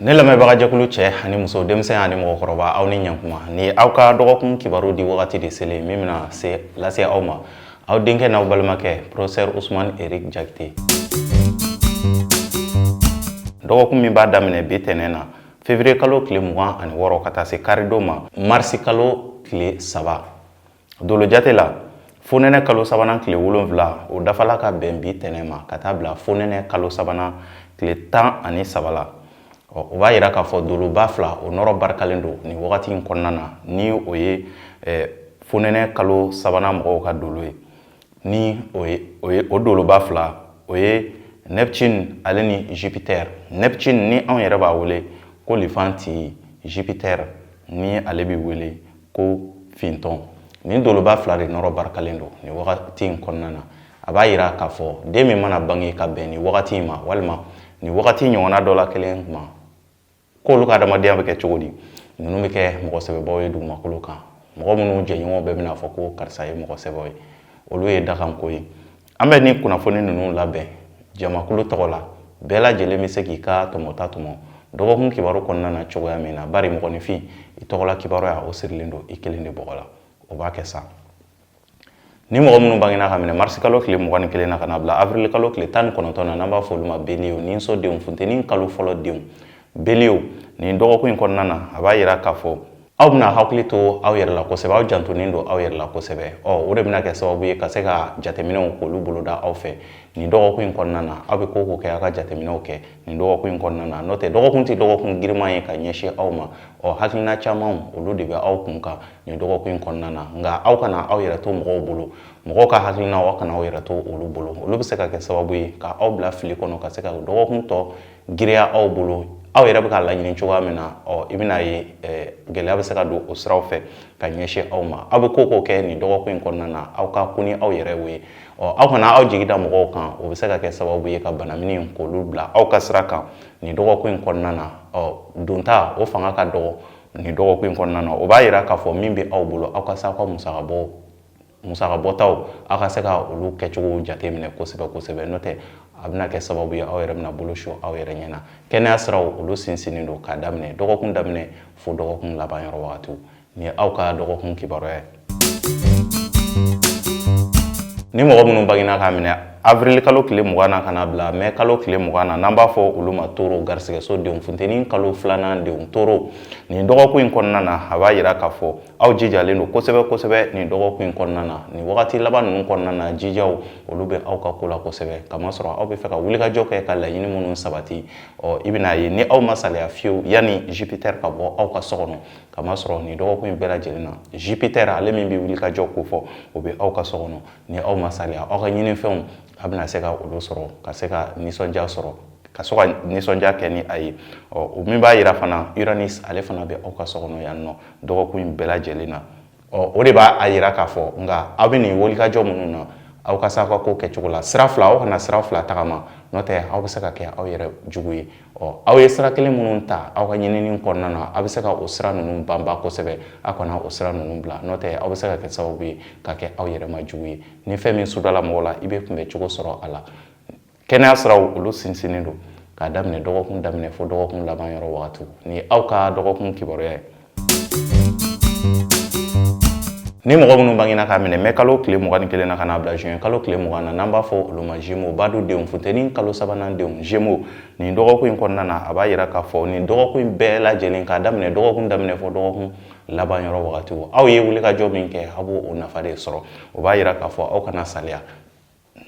Ne lamɛnbagajɛkulu cɛ ani muso denmisɛn ani mɔgɔkɔrɔba aw ni ɲɛkuma nin ye aw ka dɔgɔkun kibaru di wagati de selen min bɛna se lase aw ma aw denkɛ n'aw balimakɛ profesɛri usman eriki jakite dɔgɔkun min b'a daminɛ bi tɛnɛn na fevriye kalo tile mugan ani wɔɔrɔ ka taa se karidon ma marisi kalo tile saba dolojate la fonɛnɛ kalo sabanan tile wolonfila o dafala ka bɛn bi tɛnɛn ma ka taa bila fonɛnɛ kalo sabanan tile tan ani saba la o b'a yira k'a fɔ doloba fila o nɔrɔ barikalen don nin wagati in kɔnɔna na ni o ye fonɛnɛ kalo sabanan mɔgɔw ka dolo ye ni o ye o doloba fila o ye neptune ale ni jupiter neptune ni anw yɛrɛ b'a wele ko lifanti jupiter ni ale bɛ wele ko fintɔn nin doloba fila de nɔrɔ barikalen don nin wagati in kɔnɔna na a b'a yira k'a fɔ den min mana bange ka bɛn nin wagati in ma walima nin wagati ɲɔgɔnna dɔ la kelen ma k'olu ka adamadenya bɛ kɛ cogo di ninnu bɛ kɛ mɔgɔ sɛbɛbaw ye dugumakolo kan mɔgɔ minnu jɛɲɔgɔnw bɛɛ bɛna fɔ ko karisa ye mɔgɔ sɛbɛw ye olu ye dakanko ye an bɛ nin kunnafoni ninnu labɛn jamakulu tɔgɔ la bɛɛ lajɛlen bɛ se k'i ka tɔmɔta tɔmɔ dɔgɔkun kibaru kɔnɔna na cogoya min na bari mɔgɔninfin i tɔgɔla kibaruya o sirilen don i kelen de bɔgɔ la o b'a kɛ sa ni mɔgɔ minnu bangena k'a minɛ marisikalo tile mugan ni kelen na ka na bila avrilikalo tile tan ni kɔnɔntɔn na n'an b'a fɔ olu ma beliye ninso denw funteni kalo fɔlɔ denw Beliye, nin dɔgɔkun in kɔnɔna na, a b'a yira k'a fɔ aw bɛna hakili to aw yɛrɛ la kosɛbɛ, aw jantonen don aw yɛrɛ la kosɛbɛ. Ɔ o de bɛna kɛ sababu ye ka se ka jateminɛw k'olu boloda aw fɛ nin dɔgɔkun in kɔnɔna na. Aw bɛ ko o ko kɛ, aw ka jateminɛw kɛ nin dɔgɔkun in kɔnɔna na. N'o tɛ dɔgɔkun tɛ dɔgɔkun giriman ye ka ɲɛsin aw ma. Ɔ hakilina camanw, olu de bɛ aw kun kan nin dɔgɔkun in kɔnɔna na. Nka aw kana aw yɛrɛ to mɔgɔw bolo, mɔgɔw ka hakilinaw aw kana aw yɛrɛ to olu bolo. Olu bɛ se ka kɛ sababu ye ka aw bila fili kɔnɔ ka se ka dɔgɔkun tɔ giriya aw bolo aw yɛrɛ bɛ k'a laɲini cogoya min na ɔ i bɛna ye gɛlɛya bɛ se ka don o siraw fɛ ka ɲɛsin aw ma aw bɛ ko o ko kɛ nin dɔgɔkun in kɔnɔna na aw ka ko ni aw yɛrɛ ye ɔ aw kana aw jigi da mɔgɔw kan o bɛ se ka kɛ sababu ye ka banaminiw k'olu bila aw ka sira kan nin dɔgɔkun in kɔnɔna na ɔ donta o fanga ka dɔgɔ nin dɔgɔkun in kɔnɔna na o b'a yira k'a fɔ min bɛ aw bolo aw ka se aw ka musakabɔ musaka bɔtaw aw ka se ka olu kɛcogo jate minɛ kosɛbɛ kosɛbɛ n'o tɛ a bɛna kɛ sababu ye aw yɛrɛ bɛna bolo su aw yɛrɛ ɲɛ na kɛnɛya siraw olu sinsinnen don k'a daminɛ dɔgɔkun daminɛ fo dɔgɔkun laban yɔrɔ wagatiw ni aw ka dɔgɔkun kibaruya ye ni mɔgɔ minnu bangena k'a minɛ avril kalo tile mugan na ka na bila mɛ kalo tile mugan na n'an b'a fɔ olu ma toro garisigɛso denw funteni kalo filanan denw toro nin dɔgɔkun in kɔnɔna na a b'a yira k'a fɔ aw jijalen don kosɛbɛ kosɛbɛ nin dɔgɔkun in kɔnɔna na nin wagati laban ninnu kɔnɔna na jijaw olu bɛ aw ka ko la kosɛbɛ kamasɔrɔ aw bɛ fɛ ka wulikajɔ kɛ ka laɲini minnu sabati ɔ i bɛna ye ni aw ma saliya fiyewu yanni jupiter ka bɔ aw ka so kɔnɔ kamasɔrɔ nin dɔgɔkun in bɛɛ lajɛlen na jupiter ale min bɛ wulikajɔ ko fɔ o bɛ aw ka so kɔnɔ ni aw ma saliya aw ka ɲinifɛnw a bɛna se ka olu sɔrɔ ka se ka nisɔndiya sɔrɔ ka sɔrɔ ka nisɔndiya kɛ ni a ye ɔ o min b'a jira fana uranus ale fana bɛ aw ka so kɔnɔ yan nɔ dɔgɔkun in bɛɛ lajɛlen na ɔ o de b'a yira k'a fɔ nka aw bɛ nin wulikajɔ minnu na aw ka se aw ka ko kɛcogo la sira fila aw kana sira fila tagama n'o tɛ aw bɛ se ka kɛ aw yɛrɛ jugu ye ɔ aw ye sira kelen minnu ta aw ka ɲinini kɔnɔna na aw bɛ se ka o sira ninnu banba kosɛbɛ aw kana o sira ninnu bila n'o tɛ aw bɛ se ka kɛ sababu ye ka kɛ aw yɛrɛ ma jugu ye ni fɛn min sudala mɔgɔ la i bɛ kunbɛn cogo sɔrɔ a la kɛnɛya siraw olu sinsinnen don k'a daminɛ dɔgɔkun daminɛ fo dɔgɔkun laban yɔrɔ wagati nin ye aw ka dɔgɔkun kibaruya ye ni mɔgɔ minnu bangena k'a minɛ mai kalo tile mugan ni kelen na ka n'a bila juin kalo tile mugan na n'an b'a fɔ olu ma gémeaux badu denw funteni kalo sabanan denw gémeaux nin dɔgɔkun in kɔnɔna na a b'a yira k'a fɔ nin dɔgɔkun in bɛɛ lajɛlen k'a daminɛ dɔgɔkun daminɛ fo dɔgɔkun laban yɔrɔ wagati aw ye wulikajɔ min kɛ aw b'o o nafa de sɔrɔ o b'a yira k'a fɔ aw kana saliya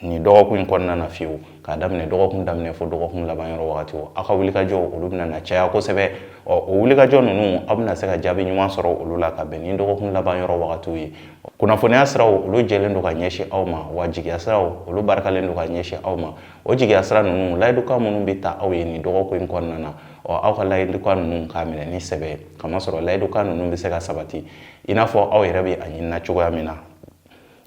nin dɔgɔkun in kɔnɔna na fiyewu k'a daminɛ dɔgɔkun daminɛ fo dɔgɔkun laban yɔrɔ wagatiw aw ka wulikajɔ olu bɛna na caya kosɛbɛ ɔ o wulikajɔ ninnu aw bɛna se ka jaabi ɲuman sɔrɔ olu la ka bɛn ni dɔgɔkun laban yɔrɔ wagatiw ye kunnafoniya siraw olu jɛlen don ka ɲɛsin aw ma wa jigiya siraw olu barikalen don ka ɲɛsin aw ma o jigiya sira ninnu layidukan minnu bɛ ta aw ye nin dɔgɔkun in kɔnɔna na ɔ aw ka layidukan ninnu k'a minɛ ni sɛbɛ ye kamasɔrɔ layidukan ninnu bɛ se ka sabati i n'a fɔ aw yɛrɛ bɛ a ɲinina cogoya min na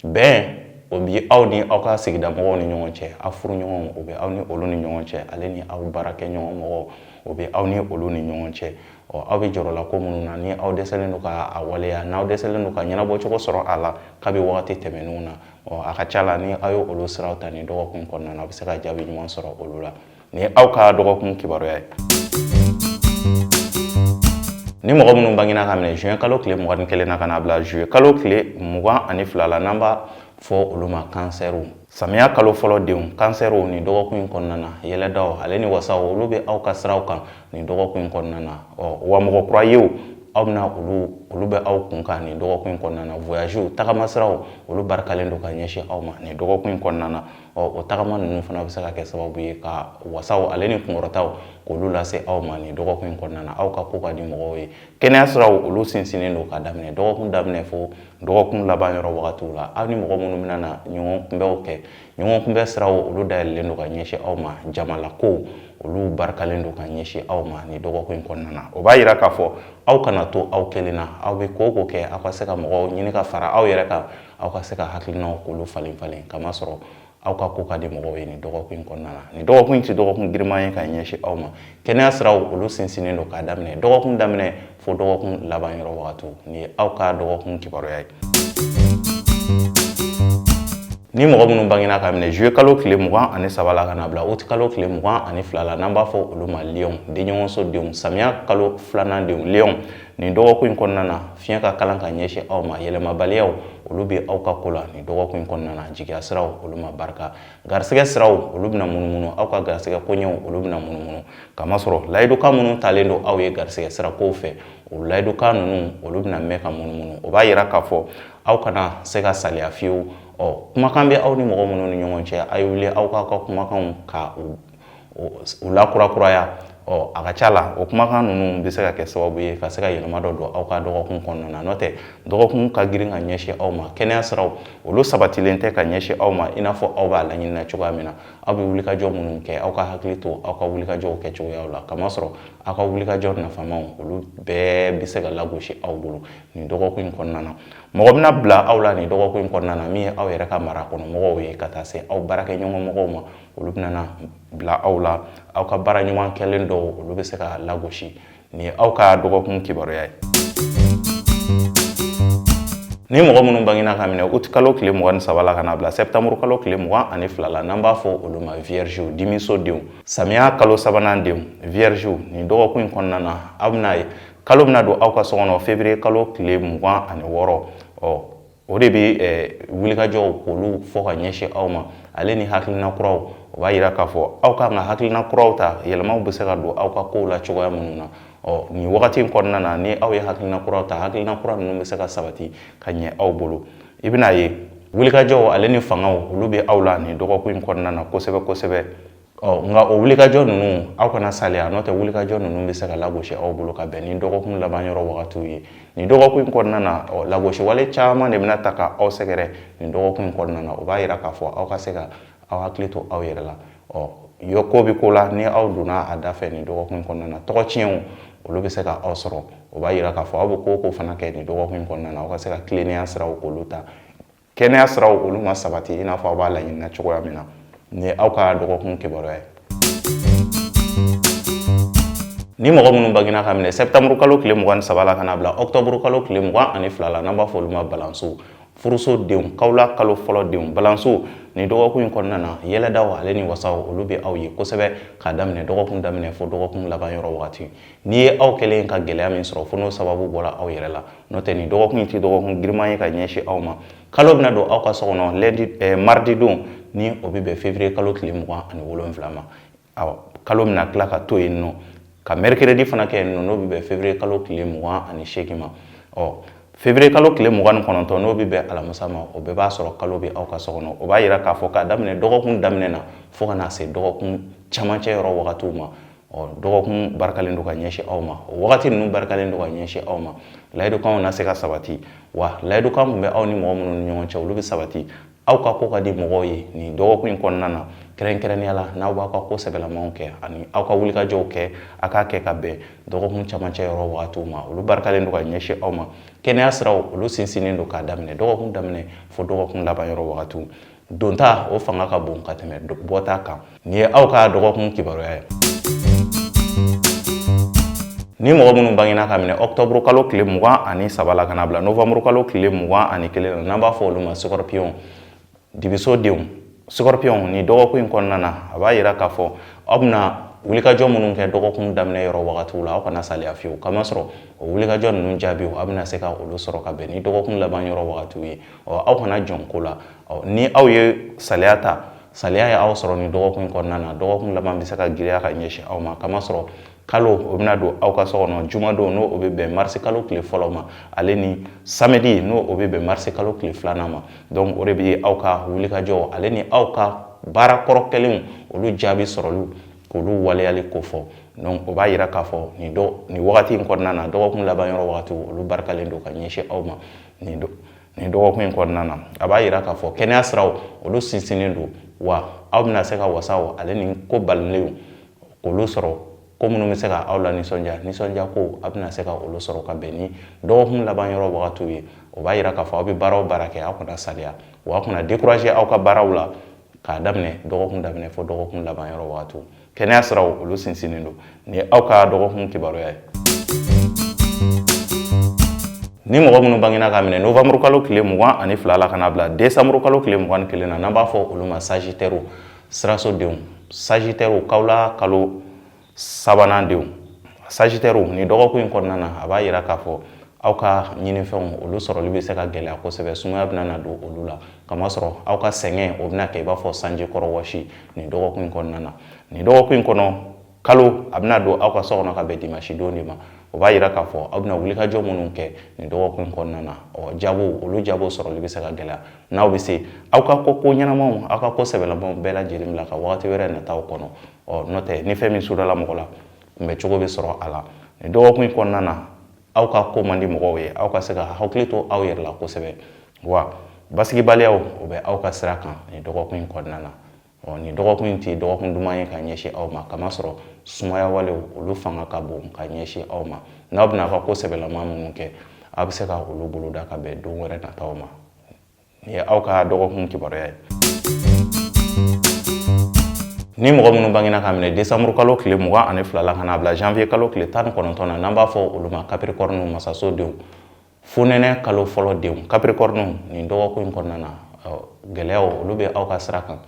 bɛn o bi aw ni aw ka sigida mɔgɔw ni ɲɔgɔn cɛ aw furuɲɔgɔn o bɛ aw ni olu ni ɲɔgɔn cɛ ale ni aw baarakɛɲɔgɔn mɔgɔw o bɛ aw ni olu ni ɲɔgɔn cɛ ɔ aw bɛ jɔrɔla ko minnu na ni aw dɛsɛlen don k'a waleya n'aw dɛsɛlen don ka ɲɛnabɔ cogo sɔrɔ a la kabi wagati tɛmɛnenw na ɔ a ka ca la ni aw ye olu siraw ta nin dɔgɔkun kɔnɔna na a bɛ se ka jaabi ɲuman sɔrɔ olu la nin ye aw ka dɔgɔkun kibaruya ye ni mɔgɔ minnu bangina k'a minɛ juin kalo tile mugan ni kelen na ka n'a bila juillet kalo tile mugan ani fila la n'an b'a fɔ olu ma kansɛriw samiya kalo fɔlɔ denw kansɛriw nin dɔgɔkun in kɔnɔna na yɛlɛdaw ale ni wasaw olu bɛ aw ka siraw kan nin dɔgɔkun in kɔnɔna na ɔ wa mɔgɔ kura yew aw bɛna olu olu bɛ aw kun kan nin dɔgɔkun in kɔnɔna na voyagew tagamasiraw olu barikalen don ka ɲɛsin aw ma nin dɔgɔkun in kɔnɔna na ɔ o tagama ninnu fana bɛ se ka kɛ sababu ye ka wasaw ale ni kunkɔrɔtaw k'olu lase aw ma nin dɔgɔkun in kɔnɔna na aw ka ko ka di mɔgɔw ye kɛnɛya siraw olu sinsinnen don k'a daminɛ dɔgɔkun daminɛ fo dɔgɔkun laban yɔrɔ wagatiw la aw ni mɔgɔ minnu bɛna na ɲɔgɔn kunbɛnw kɛ ɲɔgɔn kunbɛn siraw olu dayɛlɛlen don ka ɲɛsin aw ma jamalakow olu barikalen don ka ɲɛsin aw ma nin dɔgɔkun in kɔnɔna na o b'a yira k'a fɔ aw kana to aw kelen na aw bɛ ko o ko kɛ aw ka se ka mɔgɔw ɲini ka fara aw yɛrɛ kan aw ka se ka hakilinaw k'olu falen falen kamasɔrɔ aw ka ko ka di mɔgɔw ye nin dɔgɔkun in kɔnɔna na nin dɔgɔkun in tɛ dɔgɔkun giriman ye ka ɲɛsin aw ma kɛnɛya siraw olu sinsinnen don k'a daminɛ dɔgɔkun daminɛ fo dɔgɔkun laban yɔrɔ wagatiw nin ye aw ka dɔgɔkun kibaruya ye ni mɔgɔ minnu bangena ka minɛ juye kalo tile mugan ani saba la ka na bila uti kalo tile mugan ani fila la n'an b'a fɔ olu ma liyɔn denɲɔgɔnso denw samiya kalo filanan denw liyɔn nin dɔgɔkun in kɔnɔna na fiɲɛ ka kalan ka ɲɛsin aw ma yɛlɛmabaliyaw olu bɛ aw ka ko la nin dɔgɔkun in kɔnɔna na jigiya siraw olu ma barika garisɛgɛ siraw olu bɛna munumunu aw ka garisɛgɛ koɲɛw olu bɛna munumunu kamasɔrɔ layidukan minnu talen don aw ye garisɛgɛ sirakow fɛ o layidukan ninnu olu bɛna mɛn ka munumunu o b'a yira k'a fɔ aw kana se ka saliya fiyewu ɔ kumakan bɛ aw ni mɔgɔ minnu ni ɲɔgɔn cɛ a ye wuli aw k'aw ka kumakanw ka u u lakurakuraya ɔ a ka ca la o kumakan ninnu bɛ se ka kɛ sababu ye ka se ka yɛlɛma dɔ don aw ka dɔgɔkun kɔnɔna na n'o tɛ dɔgɔkun ka girin ka ɲɛsin aw ma kɛnɛya siraw olu sabatilen tɛ ka ɲɛsin aw ma i n'a fɔ aw b'a laɲini na cogoya min na aw bɛ wulikajɔ minnu kɛ aw ka hakili to aw ka wulikajɔw kɛ cogoyaw la kamasɔrɔ aw ka wulikajɔ nafamaw olu bɛɛ bɛ se ka lagosi aw bolo nin dɔgɔkun in kɔnɔna na mɔgɔ bɛna bila aw la nin dɔgɔkun in kɔnɔna na min ye aw yɛrɛ ka mara kɔnɔ mɔgɔw ye ka taa se aw baarakɛɲɔgɔn mɔgɔw ma olu bɛna bila aw la aw ka baara ɲuman kɛlen dɔw olu bɛ se ka lagosi nin ye aw ka dɔgɔkun kibaruya ye ni mɔgɔ minnu bangina ka minɛ uti kalo tile mugan ni saba la ka na bila sɛtanburu kalo tile mugan ani fila la n'an b'a fɔ olu ma viergew dimiso denw samiya kalo sabanan denw viergew nin dɔgɔkun in kɔnɔna na aw bɛna ye kalo bɛna don aw ka so kɔnɔ février kalo tile mugan ani wɔɔrɔ ɔ o de bɛ eh, wulikajɔw k'olu fɔ ka ɲɛsin aw ma ale ni hakilina kuraw o b'a yira k'a fɔ aw ka kan ka hakilina kuraw ta yɛlɛmaw bɛ se ka don aw ka kow la cogoya minnu na ɔ nin wagati in kɔnɔna na ni aw ye hakilina kuraw ta hakilina kura ninnu bɛ se ka sabati ka ɲɛ aw bolo i bɛna ye wulikajɔw ale ni fangaw olu bɛ aw la nin dɔgɔkun in kɔnɔna na kosɛbɛ kosɛbɛ ɔ nka o wulikajɔ ninnu aw kana saliya n'o tɛ wulikajɔ ninnu bɛ se ka lagosi aw bolo ka bɛn ni dɔgɔkun laban yɔrɔ wagatiw ye nin dɔgɔkun in kɔnɔna na ɔ lagosiwale caman de bɛna taa ka aw sɛgɛrɛ nin dɔgɔkun in kɔnɔna na o b'a yira k'a fɔ aw ka se ka aw hakili to aw yɛrɛ la ɔ yɔ ko bɛ ko la ni aw donna a da fɛ nin dɔgɔkun in kɔnɔna na tɔgɔ tiɲɛw olu bɛ se ka aw sɔrɔ o b'a yira k'a fɔ aw bɛ ko o ko fana kɛ nin dɔgɔkun in kɔnɔna na aw ka se ka tilennenya siraw k'olu ta kɛnɛya siraw olu ma sabati i n'a fɔ aw b'a laɲinina cogoya min na nin ye aw ka dɔgɔkun kibaruya ye ni mɔgɔ minnu bangina ka minɛ sɛbtanburu kalo tile mugan ni saba la ka na bila ɔktɔburu kalo tile mugan ani fila la n'an b'a fɔ olu ma balanso furuso denw kawula kalo fɔlɔ denw balanso nin dɔgɔkun in kɔnɔna na yɛlɛdaw ale ni wasaw olu bɛ aw ye kosɛbɛ k'a daminɛ dɔgɔkun daminɛ fo dɔgɔkun laban yɔrɔ wagati N'i ye aw kɛlen ka gɛlɛya min sɔrɔ fo n'o sababu bɔra aw yɛrɛ la n'o tɛ nin dɔgɔkun in tɛ dɔgɔkun giriman ye ka ɲɛsin aw ma kalo bɛna don aw ka so kɔnɔ lundi ɛɛ mardi don ni o bɛ bɛn février kalo tile mugan ani wolonwula ma awɔ kalo bɛna tila ka to yen nɔ ka mercredi fana kɛ yen nɔ n'o bɛ bɛn février kalo tile mugan ani seegin ma ɔ février kalo tile mugan ni kɔnɔntɔn n'o bɛ bɛn alamisa ma o bɛɛ b'a sɔrɔ kalo bɛ aw ka so kɔnɔ o b'a yira k'a fɔ k'a daminɛ dɔgɔkun daminɛ na fo ka na se dɔgɔkun camancɛ yɔrɔ wagatiw ma ɔ dɔgɔkun barikalen don ka ɲɛsin aw ma o wagati ninnu barikalen don ka ɲɛsin aw ma layidukanw na se ka sabati wa layidukan min bɛ aw ni mɔgɔ minnu ni ɲɔgɔn cɛ olu bɛ sabati aw ka ko ka di mɔgɔw ye nin dɔgɔkun in kɔnɔna na kɛrɛnkɛrɛnnenya la n'aw b'aw ka ko sɛbɛlamanw kɛ ani aw ka wulikajɔw kɛ a k'a kɛ ka bɛn dɔgɔkun camancɛ yɔrɔ wagatiw ma olu barikalen don ka ɲɛsin aw ma kɛnɛya siraw olu sinsinnen don k'a daminɛ dɔgɔkun daminɛ fo dɔgɔkun laban yɔrɔ wagatiw donta o fanga ka bon ka tɛmɛ bɔta kan nin ye aw ka dɔgɔkun kibaruya ye ni mɔgɔ minnu bangina ka minɛ ɔktɔburu kalo tile mugan ani saba la ka na bila novanburu kalo tile mugan ani kelen na n'an b'a fɔ olu ma sɔkɔrɔpiyɔn dibiso denw sɔkɔrɔpiyɔn nin dɔgɔkun in kɔnɔna na a b'a yira k'a fɔ aw bɛna wulikajɔ minnu kɛ dɔgɔkun daminɛ yɔrɔ wagatiw la aw kana saliya fiyewu kamasɔrɔ o wulikajɔ ninnu jaabiw aw bɛna se ka olu sɔrɔ ka bɛn ni dɔgɔkun laban yɔrɔ wagatiw ye ɔ aw kana jɔn ko la ɔ ni aw ye saliya ta saliya ye aw sɔrɔ nin dɔgɔkun kɔnɔna na dɔgɔkun laban bɛ se ka giriya ka ɲɛsin aw ma kamasɔrɔ kalo o bɛna don aw ka so kɔnɔ jumadon n'o o bɛ bɛn marisi kalo tile fɔlɔ ma ale ni samedi n'o o bɛ bɛn marisi kalo tile filanan ma donc o de bɛ aw ka wulikajɔ ale ni aw ka baara kɔrɔ kɛlenw olu jaabi sɔrɔliw k'olu waleyali kofɔ donc o b'a yira k'a fɔ nin dɔ nin wagati in kɔnɔna na dɔgɔkun laban yɔrɔ wagati olu barikalen don ka ɲɛsin aw ma nin don nin dɔgɔkun in kɔnɔna na a b'a yira k'a fɔ kɛnɛya siraw olu sinsinnen don wa aw bɛna se ka wasaw ale ni ko balilenw k'olu sɔrɔ ko minnu bɛ se ka aw lanisɔndiya nisɔndiyako a bɛna se ka olu sɔrɔ ka bɛn ni dɔgɔkun laban yɔrɔ wagatiw ye o b'a yira k'a fɔ aw bɛ baara o baara kɛ aw kana saliya wa aw kana décourager aw ka baaraw la k'a daminɛ dɔgɔkun daminɛ fo dɔgɔkun laban yɔrɔ wagatiw kɛnɛya siraw olu sinsinnen don nin ye aw ka dɔgɔkun kibaruya ye ni mɔgɔ minnu bangena ka minɛ novembre kalo tile mugan ani fila la ka n'a bila décembre kalo tile mugan ni kelen na n'an b'a fɔ olu ma sagitɛriw sirasodenw sagitɛriw kawla kalo sabanan denw sagitɛriw nin dɔgɔkun in kɔnɔna na a b'a yira k'a fɔ aw ka ɲinifɛnw olu sɔrɔli bɛ se ka gɛlɛya kosɛbɛ sumaya bɛna na don olu la kamasɔrɔ aw ka sɛgɛn o bɛna kɛ i b'a fɔ sanji kɔrɔ wɔsi nin dɔgɔkun in kɔnɔna na nin dɔgɔkun in kɔnɔ kalo a bɛna don aw ka so kɔnɔ ka bɛn dimasidon de ma o b'a yira k'a fɔ aw bɛna wulikajɔ minnu kɛ nin dɔgɔkun in kɔnɔna na ɔ jago olu jago sɔrɔli bɛ se ka gɛlɛya n'aw bɛ se aw ka ko ɲɛnamaw aw ka ko sɛbɛlamaw bɛɛ lajɛlen bila ka waati wɛrɛ nataw kɔnɔ ɔ n'o tɛ ni fɛn min sudala mɔgɔ la kunbɛ cogo bɛ sɔrɔ a la nin dɔgɔkun in kɔnɔna na aw ka ko man di mɔgɔw ye aw ka se ka hakili to aw yɛrɛ la kosɛbɛ wa basigibaliyaw o bɛ aw ka sira kan nin dɔgɔkun in kɔnɔna na ɔ nin dɔgɔkun in ti dɔgɔkun duman ye ka ɲɛsin aw ma kamasɔrɔ sumaya walew olu fanga ka bon ka ɲɛsin aw ma n'aw bɛna aw ka ko sɛbɛlama minnu kɛ aw bɛ se ka olu boloda ka bɛn don wɛrɛ nataw ma nin ye aw ka dɔgɔkun kibaruya ye ni mɔgɔ minnu bangena ka minɛ desanburu kalo tile mugan ani fila la ka n'a bila janvier kalo tile tan ni kɔnɔntɔn na n'an b'a fɔ olu ma kapirikɔriniw masaso denw fonɛnɛ kalo fɔlɔ denw kapirikɔriniw nin dɔgɔkun in kɔnɔna na gɛlɛyaw olu bɛ aw ka sira kan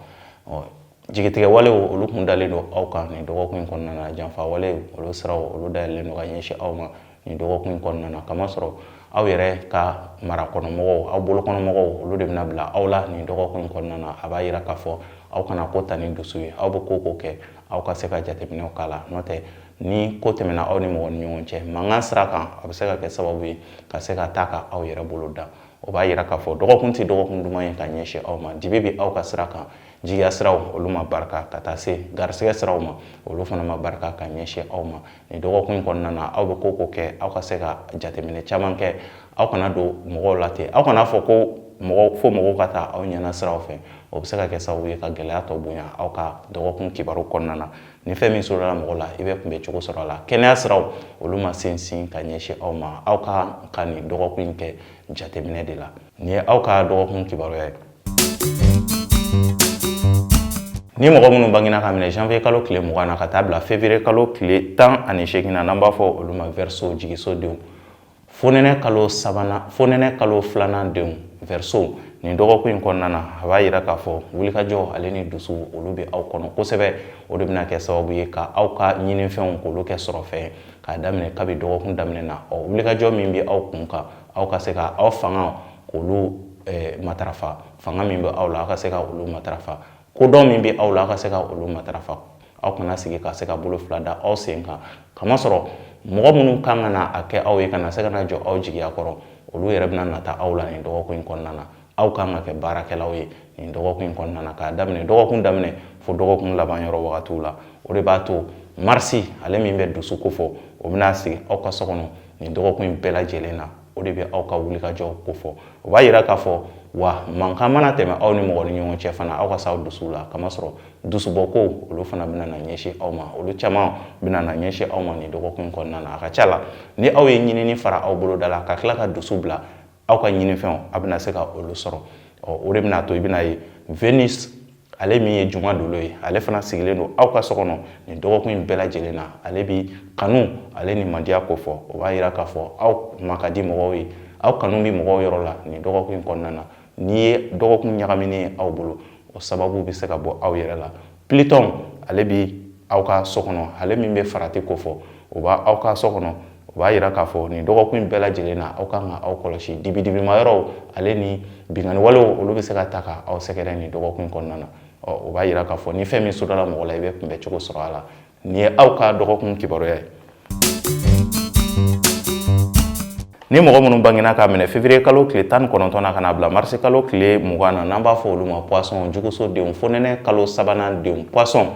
jigitigɛ walew olu kun dalen don aw kan nin dɔgɔkun in kɔnɔna na janfa walew olu siraw olu dayɛlɛlen don ka ɲɛsin aw ma nin dɔgɔkun in kɔnɔna na kamasɔrɔ aw yɛrɛ ka marakɔnɔmɔgɔw aw bolokɔnɔmɔgɔw olu de bɛna bila aw la nin dɔgɔkun in kɔnɔna na a b'a yira k'a fɔ aw kana ko ta ni dusu ye aw bɛ ko o ko kɛ aw ka se ka jateminɛw k'a la n'o tɛ ni ko tɛmɛna aw ni mɔgɔ ni ɲɔgɔn cɛ mankan sira kan a bɛ se ka kɛ sababu ye ka se ka taa ka aw yɛrɛ bolo da o b'a yira k'a fɔ dɔgɔkun tɛ dɔgɔkun duman ye ka ɲɛsin aw ma dibi bɛ aw ka sira kan jigiya siraw olu ma barika ka taa se garisɛgɛ siraw ma olu fana ma barika ka ɲɛsin aw ma nin dɔgɔkun in kɔnɔna na aw bɛ ko o ko kɛ aw ka se ka jateminɛ caman kɛ aw kana don mɔgɔw la ten aw kana fɔ ko mɔgɔ fo mɔgɔw ka taa aw ɲɛna siraw fɛ o bɛ se ka kɛ sababu ye ka gɛlɛya tɔ bonya aw ka dɔgɔkun kibaru kɔnɔna na ni fɛn min sɔrɔla mɔgɔ la i bɛ kunbɛ cogo sɔrɔ a la kɛnɛya siraw olu ma sinsin ka ɲɛsin aw ma aw ka ka nin dɔgɔkun in kɛ jateminɛ de la nin ye aw ka dɔgɔkun kibaruya ye Ni mɔgɔ minnu bangina ka minɛ janvier kalo tile mugan na ka taa bila février kalo tile tan ani seegin na n'an b'a fɔ olu ma verseau jigiso denw fonɛnɛ kalo sabanan fonɛnɛ kalo filanan denw verseau nin dɔgɔkun in kɔnɔna na a b'a yira k'a fɔ wulikajɔ ale ni dusu olu bɛ aw kɔnɔ kosɛbɛ o de bɛna kɛ sababu ye ka aw ka ɲinifɛnw k'olu kɛ sɔrɔfɛn k'a daminɛ kabi dɔgɔkun daminɛ na ɔ wulikajɔ min bɛ aw kun kan aw ka se ka aw fanga k'olu eh, matarafa fanga min bɛ aw la aw ka se ka olu matarafa kodɔn min bɛ aw la aw ka se ka olu matarafa aw kana sigi ka se ka bolo fila da aw sen kan kamasɔrɔ mɔgɔ minnu kan ka na a kɛ aw ye ka na se ka na jɔ aw jigiya kɔrɔ olu yɛrɛ bɛna nata aw la nin dɔgɔkun in kɔnɔna na aw kan ka kɛ baarakɛlaw ye nin dɔgɔkun in kɔnɔna na k'a daminɛ dɔgɔkun daminɛ fo dɔgɔkun laban yɔrɔ wagatiw la o de b'a to marisi ale min bɛ dusu ko fɔ o bɛna sigi aw ka so kɔnɔ nin dɔgɔkun in bɛɛ lajɛlen na o de bɛ aw ka wulikajɔw ko fɔ o b'a yira k'a fɔ wa mankan mana tɛmɛ aw ni mɔgɔ ni ɲɔgɔn cɛ fana aw ka se aw dusu la kamasɔrɔ dusubɔko olu fana bɛna na ɲɛsin aw ma olu caman bɛna na ɲɛsin aw ma nin dɔgɔkun kɔnɔna na a ka ca la ni aw ye ɲinini fara aw boloda la ka tila ka dusu bila aw ka ɲinifɛnw a bɛna se ka olu sɔrɔ ɔ o de bɛna to i bɛna ye venus ale min ye juma dolo ye ale fana sigilen don aw ka so kɔnɔ nin dɔgɔkun in bɛɛ lajɛlen na ale bi kanu ale ni mandiya ko fɔ o b'a yira k'a fɔ aw ma ka di mɔgɔw ye aw kanu bi mɔgɔw yɔrɔ la nin dɔgɔkun in kɔnɔna na n'i ye dɔgɔkun ɲagaminen ye aw bolo o sababu bɛ se ka bɔ aw yɛrɛ la plitɔn ale bi aw ka so kɔnɔ ale min bɛ farati ko fɔ o b' aw ka so kɔnɔ o b'a yira k'a fɔ nin dɔgɔkun in bɛɛ lajɛlen na aw kan ka aw kɔlɔsi dibidibima yɔrɔw ale ni binkanni walew olu bɛ se ka ta ka aw sɛgɛrɛ nin dɔgɔkun kɔnɔna na ɔ o b'a yira k'a fɔ ni fɛn min sudala mɔgɔ la i bɛ kunbɛn cogo sɔrɔ a la nin ye aw ka dɔgɔkun kibaruya ye ni mɔgɔ minnu bangina k'a minɛ fevrier kalo tile tan ni kɔnɔntɔn na ka na bila marisi kalo tile mugan na n'an b'a fɔ olu ma poisson juguso denw fonɛnɛ kalo sabanan denw poisson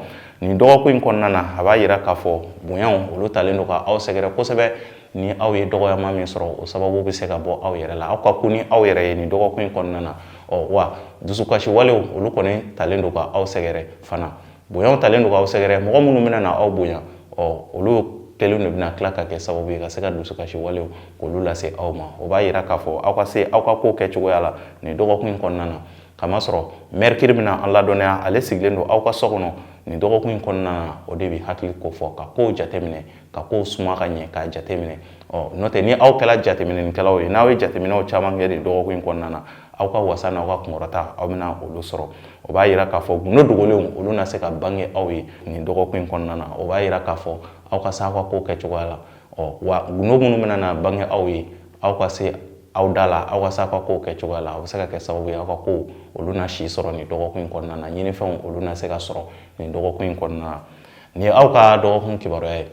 nin dɔgɔkun in kɔnɔna na a b'a yira k'a fɔ bonyaw olu talen don ka aw sɛgɛrɛ kosɛbɛ ni aw ye dɔgɔyama min sɔrɔ o sababu bɛ se ka bɔ aw yɛrɛ la aw ka ko ni aw yɛrɛ ye nin dɔgɔkun in kɔnɔna na ɔ wa dusukasiwalew olu kɔni talen don ka aw sɛgɛrɛ fana Bonya talen don ka aw sɛgɛrɛ mɔgɔ minnu bɛna na aw bonya ɔ olu kelen de bɛna tila ka kɛ sababu ye ka se ka dusukasi walew k'olu lase aw ma o b'a yira k'a fɔ aw ka se aw ka ko kɛ cogoya la nin dɔgɔkun in kɔnɔna na kamasɔrɔ mɛrikiri bɛna an ladɔnniya ale sigilen don aw ka so kɔnɔ nin dɔgɔkun in kɔnɔna na o de bɛ hakili ko fɔ ka kow jateminɛ ka kow suma ka ɲɛ k'a jateminɛ ɔ n'o tɛ ni aw kɛra jateminɛkɛlaw ye n'aw ye jateminɛw caman kɛ nin dɔgɔkun in kɔnɔna na aw ka wasa n'aw ka kunkɔrɔta aw bɛna olu sɔrɔ o b'a yira k'a fɔ gundo dogolenw olu na se ka bange aw ye nin dɔgɔkun in kɔnɔna na o b'a yira k'a fɔ aw ka se aw ka kow kɛ cogoya la ɔ wa gundo minnu bɛna na bange aw ye aw ka se aw da la aw ka se aw ka kow kɛ cogoya la o bɛ se ka kɛ sababu ye aw ka kow olu na si sɔrɔ nin dɔgɔkun in kɔnɔna na ɲinifɛnw olu na se ka sɔrɔ nin dɔgɔkun in kɔnɔna na nin ye aw ka dɔgɔkun kibaruya ye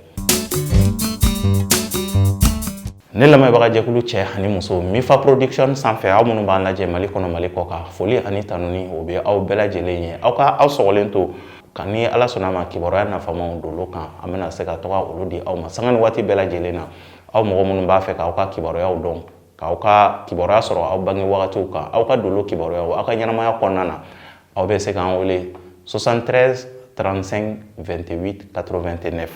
ne lamɛnbaga jɛkulu cɛ ani muso mifa production sanfɛ aw minnu b'an lajɛ mali kɔnɔ mali kɔkan foli ani tanuni o bɛ aw bɛɛ lajɛlen ye aw ka aw sɔgɔlen to ka ni ala sɔnna ma kibaruya nafamaw dolo kan an bɛna se ka to ka olu di aw ma sanga ni waati bɛɛ lajɛlen na aw mɔgɔ minnu b'a fɛ k'aw ka kibaruyaw dɔn k'aw ka kibaruya sɔrɔ aw bange wagatiw kan aw ka dolo kibaruyaw aw ka ɲɛnamaya kɔnɔna na aw bɛ se k'an wele 73 35 28 89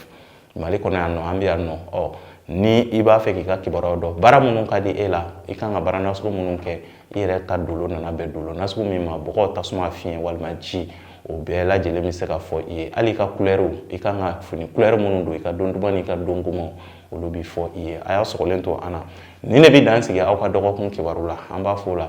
mali kɔnɔ yan nɔ an bɛ yan nɔ ɔ ni i b'a fɛ k'i ka kibaruyaw dɔn baara minnu ka di e la i kan ka baara nasugu minnu kɛ i yɛrɛ ka dolo nana bɛn dolo nasugu min ma bɔgɔ tasuma fiɲɛ walima ji o bɛɛ lajɛlen bɛ se ka fɔ i ye hali i ka kulɛriw i kan ka fini kulɛri minnu don i ka don duman n'i ka don gomanw olu bɛ fɔ i ye a y'a sɔgɔlen to an na nin de bɛ dan sigi aw ka dɔgɔkun kibaru la an b'a fɔ o la